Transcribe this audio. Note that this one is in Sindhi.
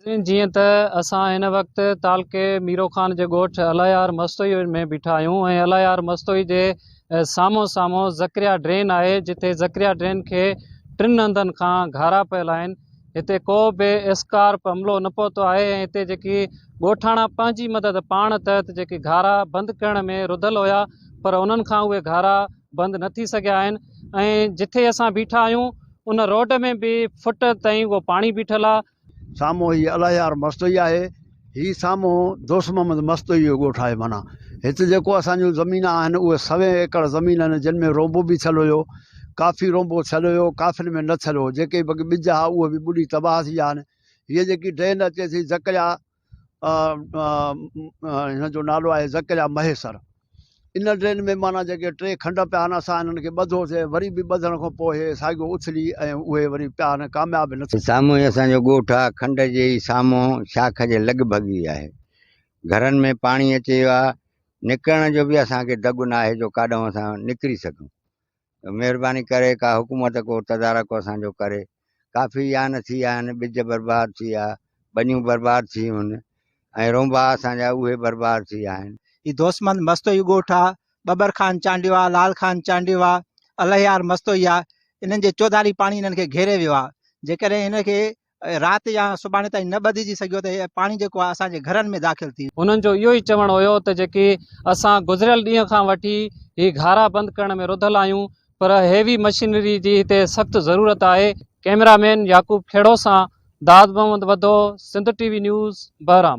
جيئن ته اسان هن وقت تعلقي ميرو خان جي ڳوٺ الايار مستوئي ۾ بيٺا آهيون ۽ الايار مستوئي جي سامهون سامهون ذڪريا ڊرين آهي جتي ذڪريا ڊرين کي ٽن هنڌن کان گهارا پيل آهن هتي ڪو به اسڪارپ عملو نه پهتو آهي ۽ هتي جيڪي ڳوٺاڻا پنهنجي مدد پاڻ تحت جيڪي گهارا بند ڪرڻ ۾ رڌل هيا پر انهن کان اهي گهارا بند نه ٿي سگهيا آهن ۽ جتي اسان بيٺا آهيون ان روڊ ۾ به فٽ تائين اهو پاڻي بيٺل آهي سامهون هي الهيار مستوئي آهي. هي سامهون دوست محمد مستوئي جو ڳوٺ آهي. معنيٰ هت جيڪو اسان جون زمينان آهن اهي سوين ايڪڙ زمين آهن جن ۾ رونبو به ٿيل هيو. ڪافي رونبو ٿيل هيو، ڪافين ۾ نه ٿيل هو. جيڪي بڪ ٻج ها اهي به ٻڏي تباهه ٿي ويا آهن. هيء جيڪي ڊرين اچي ٿي زڪريا. هن جو نالو آهي زڪريا مهيسر ان ڊرين ۾ مانا جيڪي ٽي کنڊ پيا آهن اسان انهن کي ٻڌوسي وري به ٻڌڻ کان پوء هي ساڳيو اٿلي ۽ اهي وري پيا آهن ڪامياب نه ٿي سامهون ئي اسان جو ڳوٺ آ، کنڊ جي ئي سامهون شاخ جي لڳ ڀڳ ئي آهي. گهرن ۾ پاڻي اچي ويو آ، نڪرڻ جو به اسان کي دڳ ناهي جو ڪاڏانهن اسان نڪري سگهون. مھرباني ڪري ڪا حڪومت ڪو تدارڪ اسان جو ڪري ڪافي يان ٿي ويا آهن ٻج برباد ٿي ويا ٻنيون برباد ٿي ويون آهن ۽ رونبا اسان جا اهي برباد ٿي ويا آهن هي دوستمند مستوئي ڳوٺ آ، ٻٻر خان چانڊيو آ، لال خان چانڊيو آ، الهيار مستوئي آ، انهن جي چوڌاري پاڻي انهن کي گهيري ويو آ، جيڪڏهن هن کي رات يا سڀاڻي تائين نه ٻڌجي سگهيو ته هيء پاڻي جيڪو آهي اسان جي گهرن ۾ داخل ٿي ويو. انهن جو اهو ئي چوڻ هيو ته جيڪي اسان گذريل ڏينهن کان وٺي هي گهارا بند ڪرڻ ۾ رڌل آهيون پر هيوي مشينري جي هتي سخت ضرورت آهي. ڪئميرا مين يعقوب کهڙو سان داد Muhammad Wadho, Sindh T V news, Bahram.